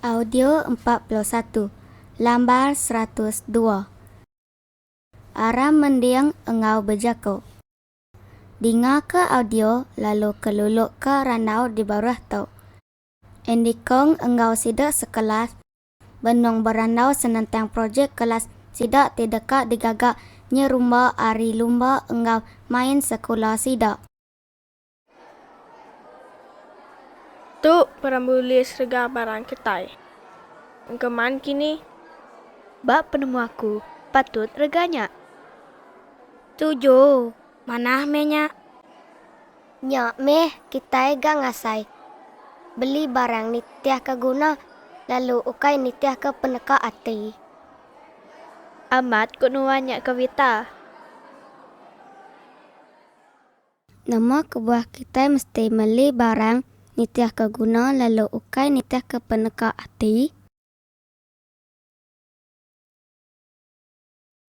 Audio empat puluh satu, Lambar seratus dua Aram mending enggau bejaku. Dingaka audio lalu kelulukka randau di baruh tu. Andy Kong enggau sida sekelas benung berandau senentang projek kelas sida ti deka digaga nyerumba ari lumba enggau main sekula sida. Tu perambu list rega barang kitai engkeman kini. Ba penemu aku, patut rega nya. Tuju, manah meh nya. Nya meh kitai ga ngasai beli barang nitihka guna lalu ukai nitihka peneka ati. Amat ku nuan nya ke Wita. Nama kebuah kitai mesti meli barang nitihka guna lalu ukai nitihka peneka ati?